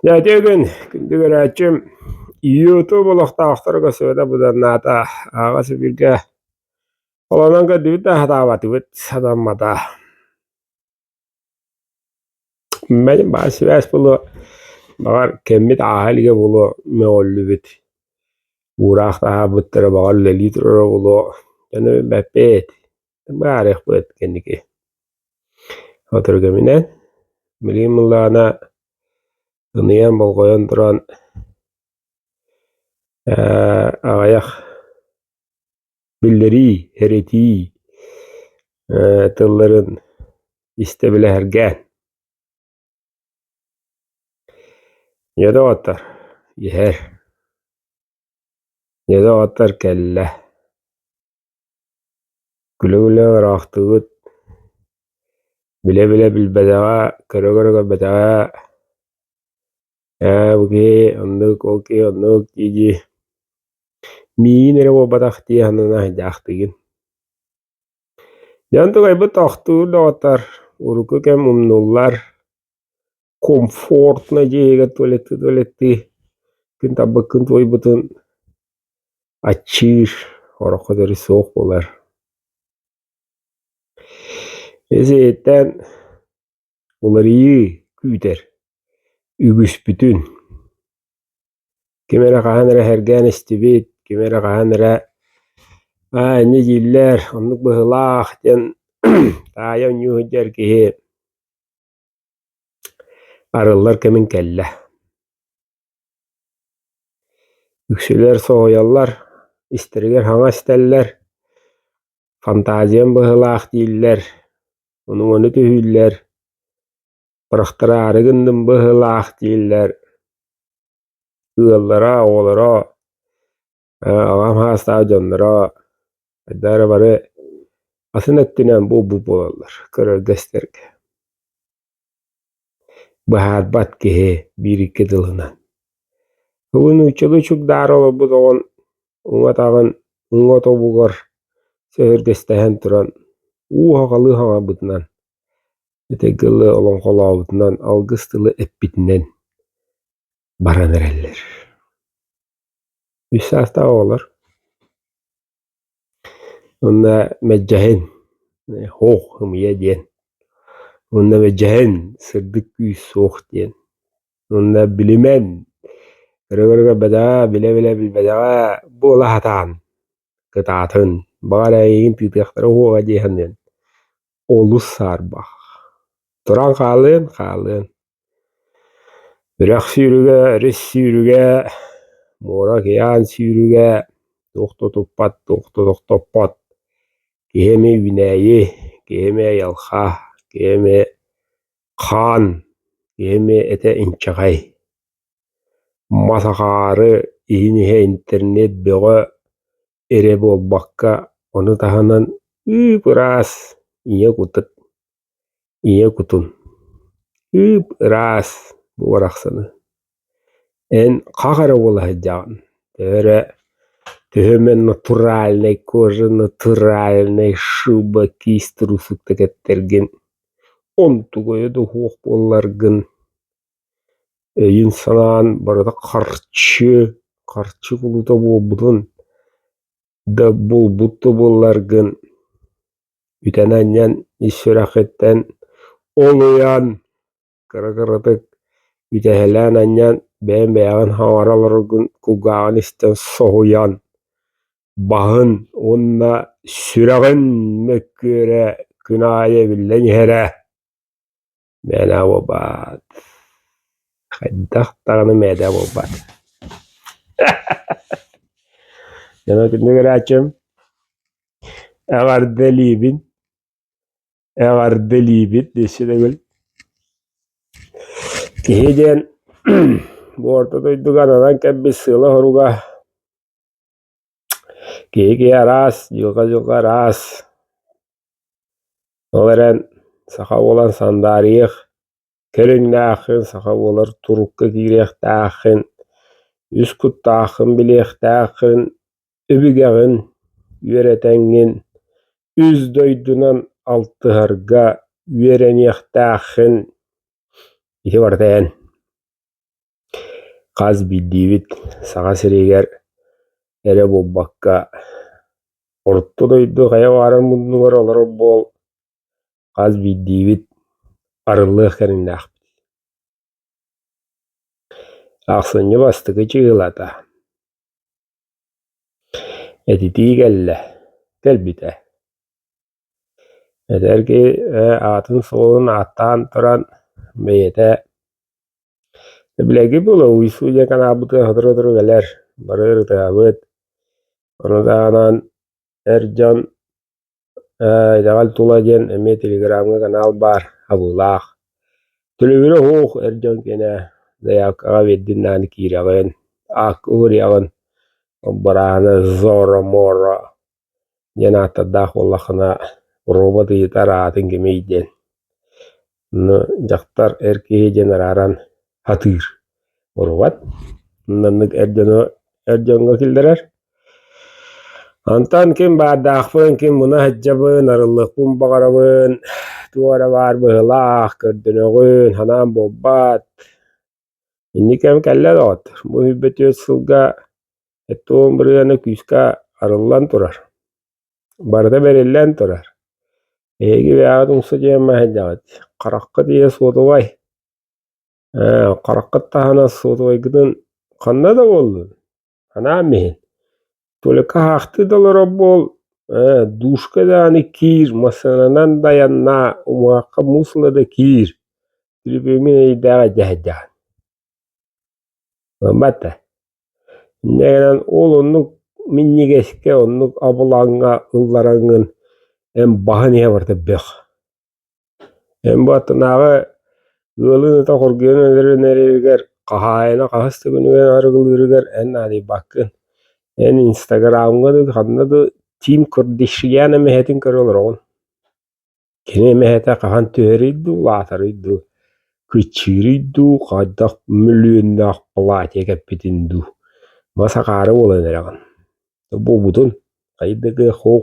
Дьэ итин күндү көрөөччүм ютуб олохтоохторго сөбө быданнаата аҕыс бииргэ холонон көрдүбүт да сатаабатыбыт сатаммата мэлин баҕар сибээс буолуо баҕар кэммит ааһа илигэ буолуо мөҕүллүбүт уураах таһаарбыттара баҕар үлэлии турура буолуо дьону билбэппит баарыахпыт кэнники Соторугаминан билим ылаана ыныйан болҕойон туран аҕыйах биллэрии, эрэтии тылларын истэ билэһэргээн. Ийэ доҕоттор, иһэр. Ийэ доҕоттор кэллэ. Күлэ-күлэ ыраахтыыбыт, билэ-билэ билбэтэҕэ, көрө-көрө көрбөтөҕө, ээ бу киһи оннук, ол киһи оннук дии-дии миигин эрэ буолбатах дии санаан айдаахтыгын. Дьэ онтукайбыт тохтуур доҕоттор урукку кэм умнуллар комфортно дьиэгэ туалетты туалетты күн тарбыккын туойбутун аччыыр ороххо төри суох буолар исиһиттэн уларыйыы күүтэр үгүспүтүн ким эрэ хаһан эрэ сэргээн истибит ким эрэ хаһан эрэ аа инньэ дииллэр оннук быһыылаах диэн таайа унньуу сылдьар киһи Арыллар кэмин кэллэ. Үксүлэр соһуйаллар, истэригэр хаҥас истэллэр, фантазиям быһыылаах дииллэр, унугуну түһүүллэр, бырахтараары гынным быһыылаах дииллэр, ыаллара, оҕолоро Аҕам хаастаах дьонноро хайдах эрэ бары атын өттүнэн буолбут буолаллар көрөргөстөргө. Быһаарбат киһи биир икки тылынан. Бүгүн нууччалыы чугдаары олорбут оҕон уҥатаҕын уҥа тобугар сөһөргөстөһөн туран уу-хаҕалыы хаҥарбытынан этэҥҥэ тылы олоҥхолообутунан алгыс тылы эппитинэн баран эрэллэр. Үс саастаах оҕолор уонна мэлдьэһин һуох ымыйыа диэн уонна мэлдьэһин сырдык күүс суох диэн уонна билимэн өрө-көрөгө бэдэҕэ билэ-билэ билбэтэҕэ буола сатаан кытаатын баҕар эйигин тыытыахтара уоҕа дии саныан олус саарбах. Туран хаалыан хаалыан Үрэх сүүрүгэ, рис сүүрүгэ, муора океан сүүрүгэ, туох да туппат, туох да тохтоппот, киһи эмиэ үүнээйи, киһи эмиэ айылҕа, киһи эмиэ хаан, киһи эмиэ этэ инчэҕэй. Мас акаары, иһин иһэ интернет бөҕө, эрэ буолбакка, ону таһынан ыып-ыраас ийэ кутун ийэ кутун ыып-ыраас бу барахсаны эн хах эрэ буола сылдьаҕын төһө эрэ төһөмө натуральнай кожа натуральнай шыба киис трусук да кэттэргин онтугайа да суох буолларгын Өйүн-санаан барыта харчы, харчы кулуута буолбутун да булбут да буолларгын, үтэн-анньан ис сүрэхиттэн ол уйаан кыра-кыратык үтэһэлээн-анньан бэйэҥ бэйэҕин хаҥара олороргун кулгааҕын истэн соһуйан баһын уонна сүрэҕин мөккүөрэ күн аайы эбиллэн иһэрэ. Мээлээ буолбаат, хайдах даҕаны мээлээ буолбаат дьоно итинник эрээччим эҕэрдэ илиибин эҕэрдэ илиибит дессе төгүл киһи диэн бу орто дойдуга ананан кэлбит сыала-соруга Киһи-киһи араас, дьылҕа-дьылҕа араас. Ол эрэн саха буолан сандаарыйыах кэриҥнээххин, саха буолар турукка киириэхтээххин, үс куттааххын билиэхтээххин, өбүгэҕин үөрэтэҥҥин, үс дойдунан алтыһарга үөрэниэхтээххин. Ити барыта эн. Хас биирдиибит Саха сириигэр эрэ буолбакка, орто дойду хайа баарын муннугар олорор буол, хас биирдиибит арыллыах кэриҥнээхпит. Ахсынньы бастакы чыгылата, этитии кэллэ, кэлбитэ. Эдэр киһи аатын-суолун ааттаан туран бэйэтэ Эбилэги була Уйсу диэн анаабыты сотору-сотору кэлэр, бары ырытыһабыт. Ону таһынан эр дьон э итэҕэл тула диэн эмиэ телеграмҥа канал баар абыылаах. Төлөбүрэ уһуух эр дьон киэнэ заявкаҕа биэрдиннээн киирэҕин, аакка угуруйаҕын. Ол барааны Зоро Моро диэн ааттардаах буоллаххына робот ыйытар аатын кимий диэн ну дьахтар эр киһи диэн арааран атыыр урубат маннык эр дьону эр дьоҥҥо киллэрэр Антан ким баардаахпын, ким муна сылдьабын, арыллыкпын баҕарабын, туох эрэ баар быһылаах, көрдөнөҕүн, санаам буолбат Инникиэм кэллэ доҕот, бу сүүрбэ түөрт сылга эттэ уон бырыһыана күүскэ арыллан турар, барыта бэриллэн турар. Эһиги бэйэҕит умса дьиэмэ сылдьаҕыт, хараххыт ийэ суотубай, ээ, хараххыт таһына суотубайгытын ханна да буоллун. анаан иһин Тюлька аһаахтыы да олорор буол ээ душка даҕаны киир массыынанан дайаннаа умуһахха муус ыла да киир трибюмин эйдээҕи дьаһайдаан мата инньэ гынан ол оннук минньигэскэ оннук абылаҥҥа ыллараҥҥын эн баһан иһэ барыта бөх Эн бу аттынааҕы ыалын ыта хоргуйан өлөрүнэригэр, хаһаайына хаһыс да күнүгэр арыгылыырыгар эн наадыйбаккын. Эн инстаграмҥа да, ханна да Тим Кардашьян эмэһэтин көрө олороҕун. Кини эмэһэтэ хаһан түһэрий дуу, улаатарый дуу, кыччыырый дуу, хайдах мөлүйүөннээх платье кэппитин дуу, мас акаары буолан эрэҕин. Буолбутун хайдыгы, хоһ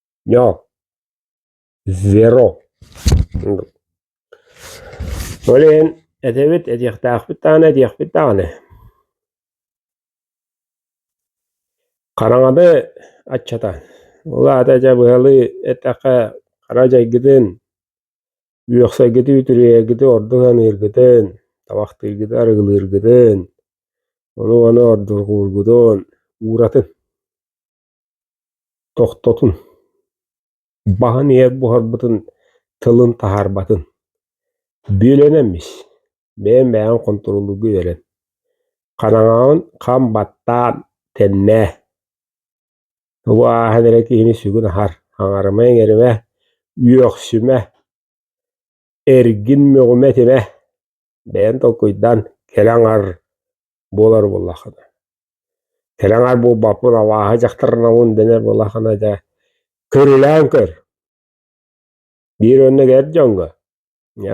Зеро Ол иһин этэбит этиэхтээхпит даҕаны этиэхпит даҕаны хараҥаны аччатан ол аата дьэ быһалыы эттэххэ хара дьайгытын үөхсэргити үтүрүйэргити ордук саныыргытын табахтыыргыты арыгылыыргытын ону ону ордурҕуургутун ууратын Тохтотун, баһын иһэр буһарбытын тылын таһаарбатын. Бүөлүөн эммис, бэйэм бэйэҕин хонтуруоллуурга үөрэн. Хараҥаҕын хам баттаан тэннээ. Тугу ааһан эрэ киһини сүгүн аһар, аҥарыма иҥэримэ, үөхсүмэ, эргин мөҕүмэ этимэ бэйэн толкуйдаан кэлэ аҥар буолар буоллаххына кэлэ аҥар буолбаппын авааһа дьахтарнаҕын дэнэр буоллаххына дьэ көрүлээн көр биир онно эр дьоҥҥо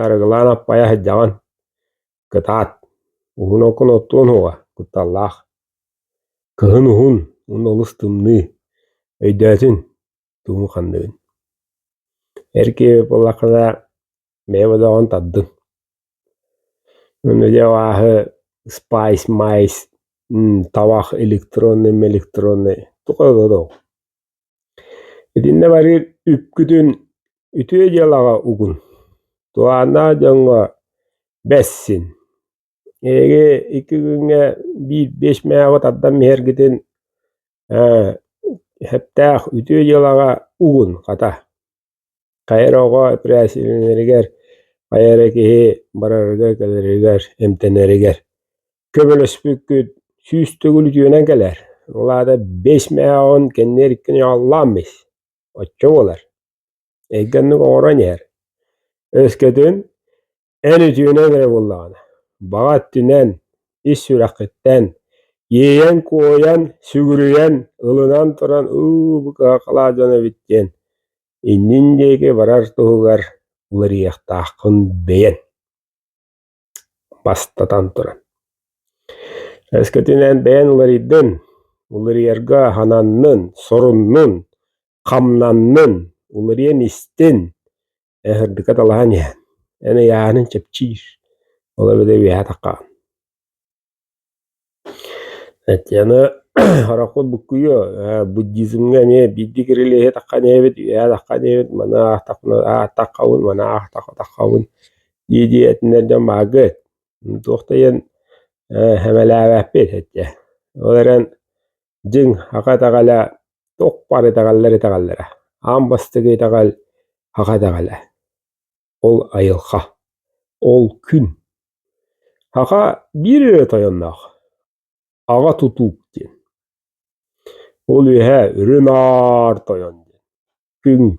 арыгылаан аппайа сылдьаҕын кытаат уһун окун оттуон уһуга кутталлаах кыһын уһун уонна олус тымныы өйдөөтүн Тугу ханныгын? Эр киһи буоллаххына бэйэм одоҕун тардыҥ. Онно дьэ абааһы спайс, майс, табах электронный, электронный туох эрэ одоҕуҥ. Итиннэ барыыр үпкүтүн үтүө дьыалаҕа угун. Туһааннаах дьоҥҥо бэссин. Эһиги икки күҥҥэ биир биэс мээҕи тардан биһэргитин Ээ, сөптөөх үтүө дьыалаҕа угун, хата. Хайа эрэ оҕо эпэрээссийэлэнэригэр, хайа эрэ киһи барарыгар-кэлэригэр, эмтэнэригэр көмөлөспүккүт сүүс төгүл үтүөнэн кэлэр. Ол аата биэс мээҕин кэнниэр иккини аҕаллаан бис. Оччо буолар. Эйгэ оннук оҥорон иһэр. Өскөтүн Эн үтүөнүҥ эрэ буоллаҕына, баҕа өттүнэн, ис сүрэххиттэн иэйэн-куойан, сүгүрүйэн, ылынан туран «ыы букаҕа халаат дьон эбит» диэн иннин диэки барар туһугар уларыйыахтааххын бэйэн. Бастатан туран. Өскөтүнэн бэйэн уларыйдын, уларыйарга сананнын, соруннун, хамнаннын, уларыйан истин, Эһэрдикэ талаһан иһэн, эн ыйааһынын чэпчиир, ол эбэтэ үөһэ атахха Татьяна Аракул буккуйуо буддизмҥа эмиэ биирдии кирилиэһи таххан иһэбит үөһэ таххан иһэбит маны ааттаххабын маны аахтаххабын дии-дии этинэр дьон бааргыт туох да иһэн сэмэлээбэппит этэ ол эрэн дьиҥ аха итэҕэлэ туох баар итэҕэллэр итэҕэллэрэ аан бастакы итэҕэл аха итэҕэлэ ол айылҕа ол күн аха биир өрө тойонноох аҕа тутуук диэн ол үөһэ үрүн аар тойон диэн Күн,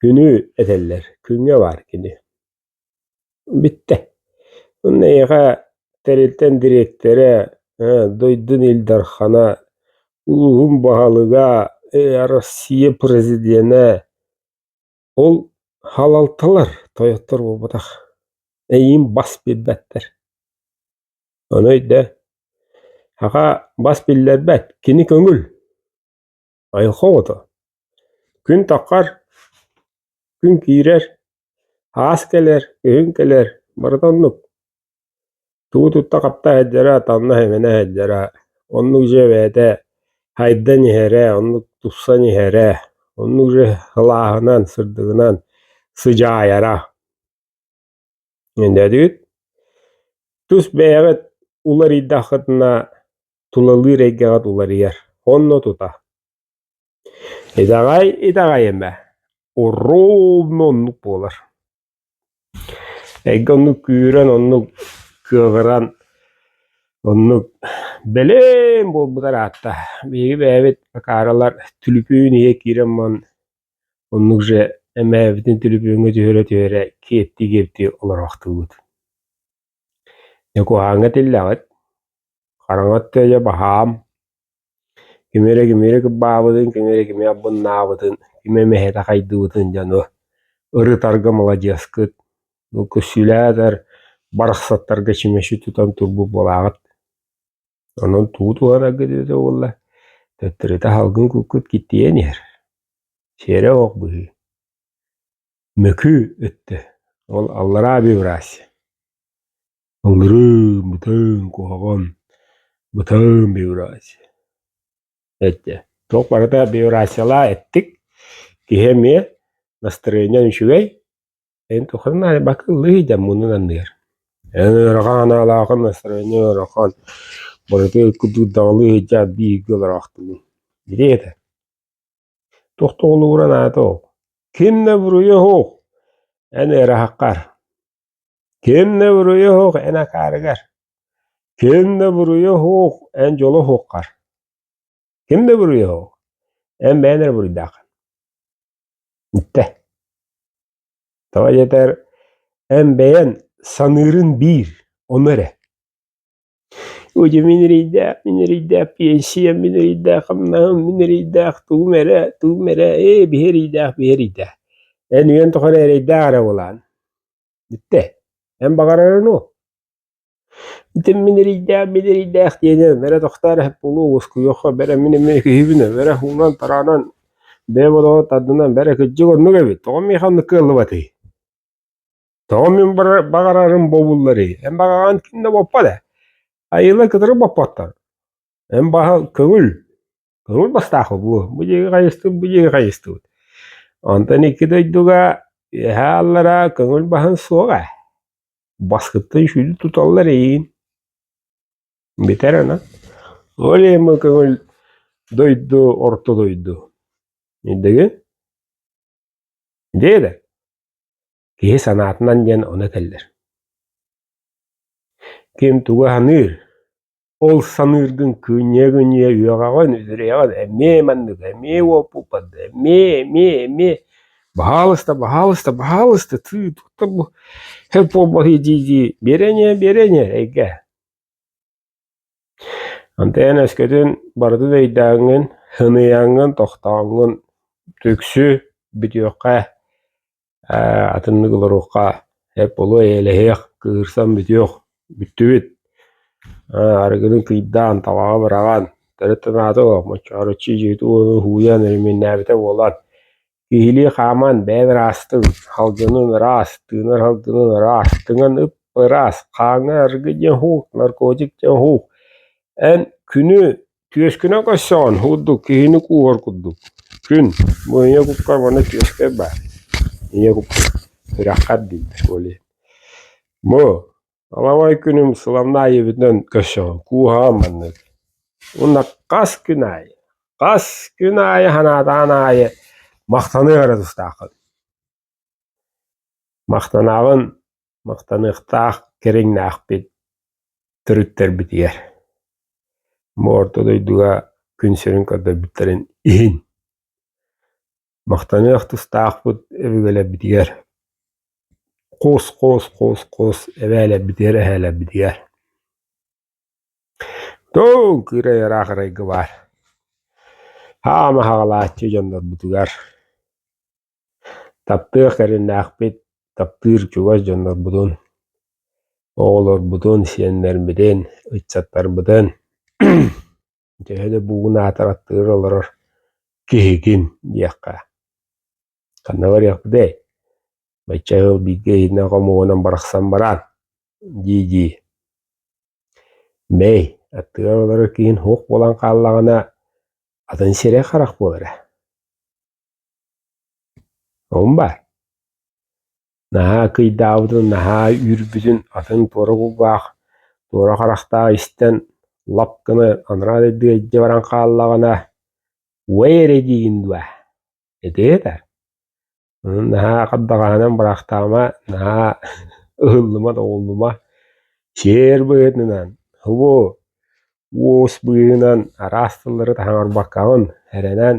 күнү этэллэр, күҥҥэ баар кини. Бүттэ. Онно эйиэхэ тэрилтэн дириэктэрэ, дойдун Ил Дархана, улууһун баһылыга, Россия президенэ ол халалталар тойоттор буолбатах. Эйиин бас билбэттэр. Ону өйдөө. Саха бас биллэрбэт, кини көҥүл. Айылҕа оҕото. Күн таххар, күн киирэр, аас кэлэр, өһүн кэлэр, барыта оннук. Тугу тутта хатта иһэрдэрэ, танна иһимэнэ иһэрдэрэ, оннук дьиэ бэйэтэ хайдан иһэрэ, оннук тупсан иһэрэ, оннук дьиэ сылааһынан, сырдыгынан сыдьаайара. Эдээдүт тус бэйэҕит уларыйдаххытына тулалыыр эйгэҕит уларыйар онно тута итэҕэй итэҕэй эмэ уруугунна оннук буолар эйгэ оннук күүрэн оннук кыаҕыран оннук бэлэм буолбутар аатта биһиги бэйэбит акааралар түлүпүн иһэ киирэн баран Оннук дьэ, эмээбитин түлүпүөҥҥэ түһэрэ-түһэрэ киэптии-киэптии олороохтуубут Дьэ куһааҥҥа этиллэҕит, хараҥа өттө баһаам, кими эрэ кими эрэ кырбаабытын, кими эрэ кими абыннаабытын, кими эмэһэтэ хайдыыбытын дьону ырытарга маладьыаскыт. Көссүүлээтэр барахсаттарга чүмэчи тутан турбут буолаҕыт. Онон туу туһарарга дилэтэ уолла, төттөрүтэ аһалгын куккут киттийэн иһэр, сиэрэ ох быһыы. Мөкү өттө, ол аллараа биобрасье. Аллырыын, бытын, куһаҕан, бытын биобрасье. Эттэ, туох барыта биобрасьелаа эттик, киһи эмиэ настроение үчүгэй, Эн тухан нааны бака ыллыыйдам мунун анныгар Эн ыарахан анаалаахын настроение ыарахан барыта курдук даҕалыы сылдьаат бииргэ олороохтугун Ити этэ Туох да холугуран аата ол Ким да буруйа оһох эн ыараһаххар Ким да буруйа оһох эн акаарыгар Ким да буруйа оһох эн дьоло оһоххар Ким да буруйа эн бэйэн эрэ буруйдаах. Бүттэ. Тоҕо диэтэр, эн бэйэн саныырын биир, ону эрэ. Ugye min riyda, min riyda piyesiyem, min riyda хамнаһым, min riyda тугум эрэ, тугум эрэ, ээ биһи riyda, биһи riyda. Эн үйэн тухары эрэйдээх эрэ буолаан. Бүттэ. Эн баҕарарын уу? Итим мин эрийдээх, мин эрийдээх диэни бэрэ тохтоор эһэт буолуо уоскуйуохха бэрэ мин эмиэ киһибин бэрэ уунан тараанан бэйэ бодоҕо тардынан бэрэ кырдьык оннук эбит тоҕо миэхэ оннук кыаллыбатый тоҕо мин баҕарарым буолбулларый эн баҕараҕын ким да боппот ээ айыылар кытары боппоттор эн баһа көҥүл Курул бастаахы буо, бу дьиги хайыстыбыт, бу дьиги хайыстыбыт. Онтон икки дойдуга үөһэ аллара көҥүл баһын суоҕа. Баскыттан сүүрү туталлар эйигин. Бүтэр ана. Ол эмэ көҥүл дойду, орто дойду. Индиги? Деді. Киһи санаатынан диэн оны кэллер. Ким туга ханыыр? Ол саныыргын күньэ-күньэ үөҕэҕин, үрэҕин эмиэ маннык, эмиэ уопуппат, эмиэ, эмиэ, эмиэ баһаалыста, баһаалыста, баһаалыста, тыы туттар бу һэт буолбатый дии-дии биэрэниэ, биэрэниэ эйгэ. Антон өскөтүн барыта да өйдөөҥҥүн, һыныйаҥҥын, тохтооҥҥун, түксү бүтүөххэ. Ээ, атыннык олоруохха, эп олуо эйэлэһиэх, кыырсан бүтүөх, бүттүбүт. Ээ, арыгыны кыйдаан, табаҕы быраҕан, төрүт санаата суох, мочоороччу дьиэтэ ууну һууйан, өрөмүөннээбитэ буолан, киһилии хааман, бэйэбэр аастым, салгынын ыраас, тыынар салгынын ыраас, тыҥан ып ыраас, хааҥҥа арыгы диэн һуук, наркотик диэн һуук. Эн күнү Түөскүнэн көрсөҕүн уурдук киһини кууһар курдук, күн, бу ийэ кукка уонна түөскэй баар, ийэ куккун сүрэххэр дииллэр буолуо. Бу аламай күнүм сыламнаах ийэбитинэн көрсөҕүн кууһаҕын маннык. Уонна хас күн аайы, хас күн аайы санаатаан аайы махтаныа эрэ тустааххын. Махтанаҕын махтаныахтаах кэриҥнээхпит төрүттэрбитигэр бу орто дойдуга күн сирин көрдөрбүттэрин иһин махтаныах тустаахпыт өбүгэлэрбитигэр хоос хоос хоос хоос эбээлэрбитигэр эһээлэрбитигэр тыл кыырай ыраах арайга баар хаама хаҕалааччы дьоннорбутугар Таптыах эрэллээхпит, таптыыр чугас дьоннорбутун, оҕолорбутун, сиэннэрбитин, ыччаттарбытын төһө да бугун аатыр аттыыр олорор киһигин диэххэ, ханна барыахпытый, бачча ыал бииргэ иһитинэ хомуһунан барахсан бараан, дии-дии. Мэй, аттыгар олорор киһиҥ суох буолан хааллаҕына, атын сирэй харах буолара. Оҕом баар, наһаа акыйдаабытын, наһаа үүрбүтүн атын туора кулгаах, туора харахтаах истэн лап гына анараа дойдуга илдьэ баран хааллаҕына «Уэй эрэ» диигин дуо? Этиэ да, онон наһаа хардаҕаһынан бырахтаама, наһаа ыһыллыма-тоҕуллума, сиэр быһыытынан, хубу уус быыһынан араас тыллары таһаарбаккаҕын эрэнэн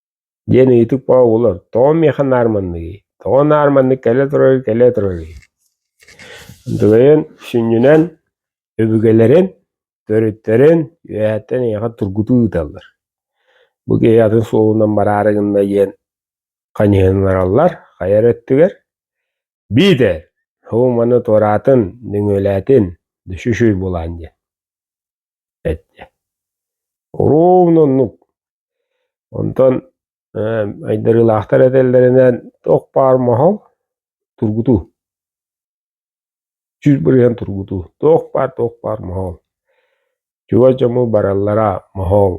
диэн ыйытык оҕолор «Тоҕо миэхэ наарманныгый? Тоҕо наарманнык кэлэ турарый, кэлэ турарый?» Дыгайан сүнньүнэн өбүгэлэрин, төрүттэрин үөһэттэн эйиэхэ тургутуу ыыталлар. Бу киһи атын суолунан бараары гынна диэн ханьыһыннараллар хайа эрэ өттүгэр. Биитэр «Һуу маны туораатын, нөҥүөлээтин, düşüşүй булаан» диэн. эттэ ровно оннук онтон айдарыылаахтар этэллэринэн ох баар моһол тургутуу сүүс бырыһыан тургутуу туох баар туох баар моһол чугас дьону бараллара моһол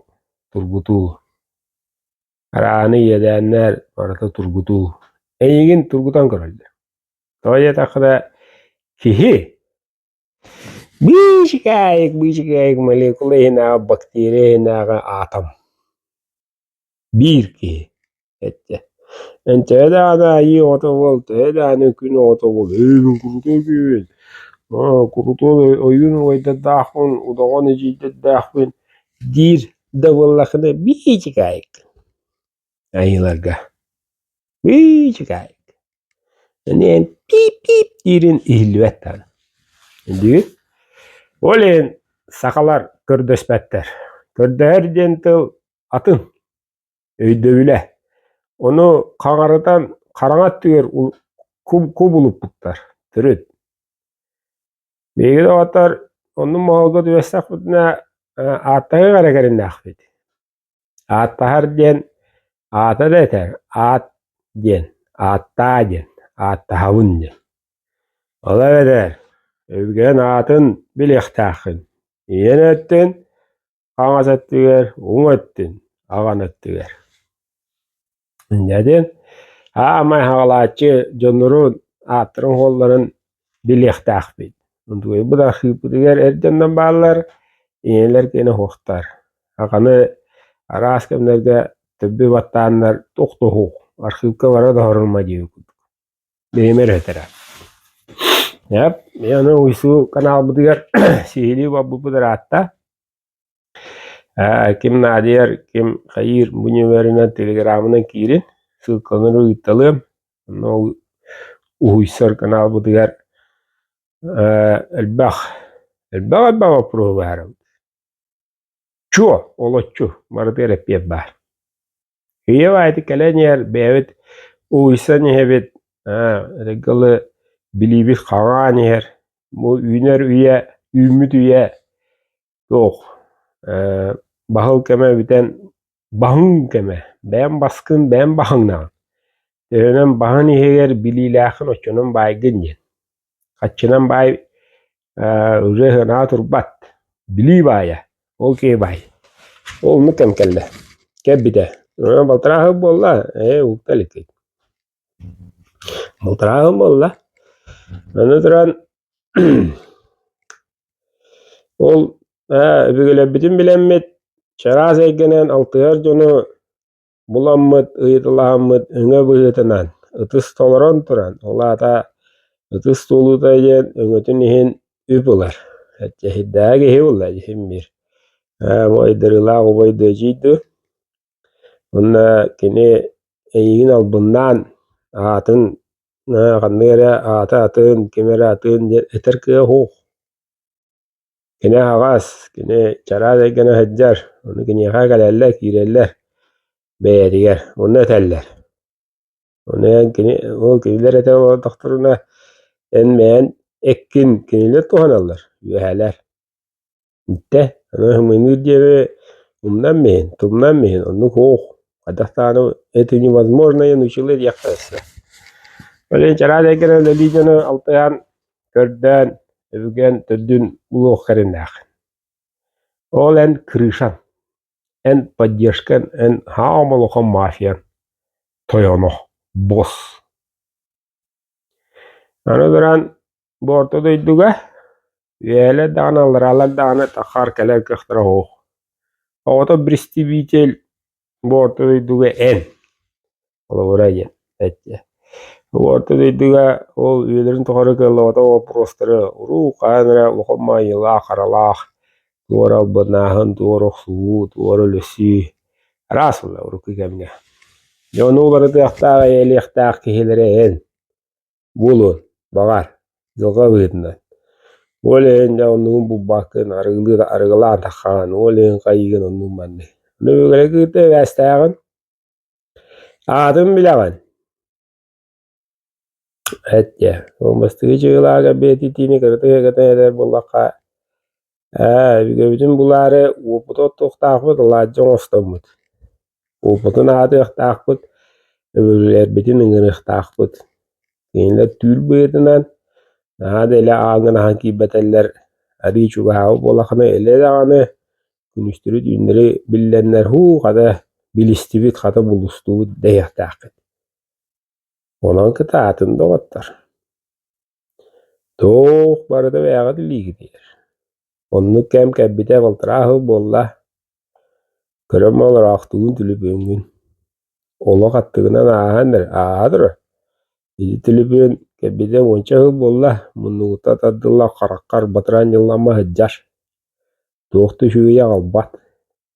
тургутуу арааны иэдээннэр барыта тургутуу эйигин тургутан көрөллөр тоҕо диэтэххинэ киһи Биичикээйик, биичикээйик молекула иһинээҕи бактерия иһинээҕи аатом. Биир киһи эттэ. Эн төһө даҕаны айыы оҕото буол, төһө даҕаны күн оҕото буол, эйигин курутуой киһибин, курутуой ойуун убайдардаахпын, удоҕон эдьиийдэрдээхпин, диир да буоллаххына биичикээйик. айыыларга быычыкаайык эн пип-пип диирин иһиллибэт даҕаны үндү ол иһин сахалар көрдөспөттөр көрдөһөр диэн тыл атын өйдөбүлэ ону хаҥарытан хараҥа өттүгэр кубулуппуттар төрүт биһиги доҕоттор оннук моһолго түбэстэхпитинэ ааттаныах эрэ кэриннээхпит Ааттаһар диэн аата да этэр аат диэн ааттаа диэн ааттаһабын диэн. Ол эбэтэр өбүгэн аатын билиэхтээххин. Ийэн өттүн хаҥас өттүгэр уҥ өттүн аҕан өттүгэр. Дьэ, аамай хаҕалааччы дьоннорун ааттарын-уолларын билиэхтээхпит. Тугуйбут архыыппытыгар эрдэннэн бааллар, ийэлэр киэнэ оһуохтар. Хаханы араас кэмнэргэ төббү баттааннар тохтоһуох, архыыпка бара да оһорумма дии курдук. Бэйэм өрөтөрө. Ап, аны Уйсуу канаалбытыгар сиһилии барбыппыт ыраатта. Ким Наадыйар, ким Хайыыр бу нүмеринэн телеграмынан киирин, ссылканы ыыталыам. Онно уһуйсар каналбытыгар элбэх, элбэх-элбэх боппуруоһу баһарабыт. Чуо, олоччу барытыгар эппиэт баар. Ийэм аайы кэлэн иһэр, бэйэбит угуйсан иһэбит, регалы билиибит хаҥаан иһэр. Бу үүнэр үйэ, үүммүт үйэ туох, баһыл кэмэ бүтэн баһыҥ кэмэ, бэйэм баскын, бэйэм баһыҥнаҕын. Төһөнөн баһын иһигэр билиилээххин, оччонон баайгын диэн. Хаччынан баай ырыаһынаҕа турбат, билии баайа, ол киһи баай. Ол оннук кэм кэллэ. Кэлбитэ. Балтарааһын буолла. Ээ, укта илик. Балтарааһын буолла. Аны туран ол ээ, өбүгэлэрбитин билэммит чараас эйгэнэн алтыһар дьону буламмыт ыйыталаһаммыт өҥө быһыытынан ытыс толорон туран, ол аата ытыс туолуута диэн өҥөтүн иһин үп ылар. Эчэһийдээҕи киһи ылла дьиһин биир. Ойдырыылаах убай дуу, эдьиий дуу. Онно кини эйигин албыннаан аатын ханнык эрэ аата атын, ким эрэ атын диэн этэр кыа уһуух. Кини аһаҕас, кини чараас эйгэнэ сылдьар, ону киниэхэ кэлэллэр, киирэллэр бэйэтигэр, онно этэллэр. Ону эн кини ол кинилэр этэ олордохторуна эн бэйэн эккин кинилэр туһаналлар, үөһэлэр. Итэ аны сымыыныыр диэри умнан иһин, тумнан иһин оннук уох хадах даҕаны это невозможное научила диэххэ сөп. Ол иһин чараас эйгэнэ үлэлии дьону алтыһан Көрдөөн, өбүгэм төрдүн булуох эриннээх. Ол эн крышаҥ, эн поддержкаҥ, эн хаа омолохом мафиян, тойоно, босс. Аны туран, бу орто дойдуга үөлэ даҕаны, аллараалар даҕаны тахаар кэлэр кыахтара уһух. Оҕото бристибиитэл Орто дойдуга эн, холобура диэн эттэ. Орто дойдуга ол үйэлэрин тухары кыаллыбата боппуруостары уруу хаһан эрэ улахан маайылаах, харалаах туора албыннааһын, туора охсуһуу, туора өлөсүү араас буолла урукку кэмҥэ. Дьэ, ону уларытыахтаах, эйэлиэхтээх киһилэрэ эн. буолуон, баҕар, дьылҕа быһыытынан. Ол иһин дьэ оннугун булбаккын, арыгылыы арыгылаатаххын, ол иһин хайыгын оннук манны. Ону бүгүлэ кыырта эбээстээҕин. Аатын билэҕин. Эт дьэ, ол бастыгы чыгылаага бээтитиини кырыта кытан этэр буллахха Ээ, өбүгэбитин булаары уопута оттуохтаахпыт, алаадьы оҥостоммут. Уопутун аатыахтаахпыт, өбүгэлэрбитин ыҥырыахтаахпыт. Кинилэр түүл быһыытынан наһаа да илэ ааҥынаһан киирбэтэллэр, арыы чугаһаабыт буоллахына, илэ даҕаны күнүстэрэ түүннэри биллэннэр һуу, хата билистибит, хата булустубут дэһиэхтээххит. Онон кытаатын доҕоттор. Туох барыта бэйэҕит илиигитигэр. Оннук кэм кэлбитэ балтараа сыл буолла. Көрөн олороохтугун түлүпүөҥҥүн. Олох аттыгынан ааһан эрэ ааһа турар. Ити түлүпүөн кэлбитэ уонча сыл буолла. Муннугуттан тардылла хараххар батыраан ньыллама сылдьар. Туох да үчүгэй аҕалбат.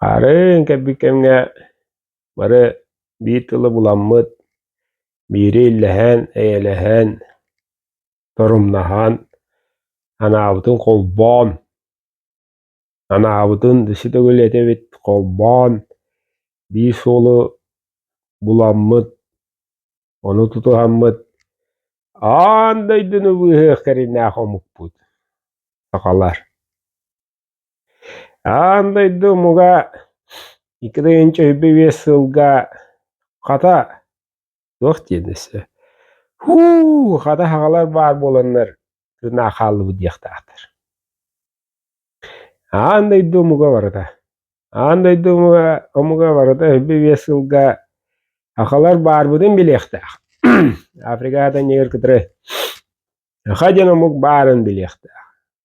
Хаарын кэлбит кэмҥэ бары биир тылы буламмыт, биири иллэһэн, эйэлэһэн, торумнаһан, анаабытын холбоон, анаабытын өссө төгүл этэбит холбоон, биир суолу буламмыт, ону тутуһаммыт, аан дойдуну быыһыах кэриҥнээх омукпут, сахалар. Аан дойду омуга икки тыһыынча сүүрбэ биэс сылга хата туох диэн өссө һуу хата саҕалар баар буоланнар тыыннаах хааллыбыт диэхтээхтэр. Аан дойду омуга барыта аан дойду омуга омуга барыта сүүрбэ биэс сылга сахалар баарбытын билиэхтээх Африкаҕа да иннигэр кытары саха диэн омук баарын билиэхтээх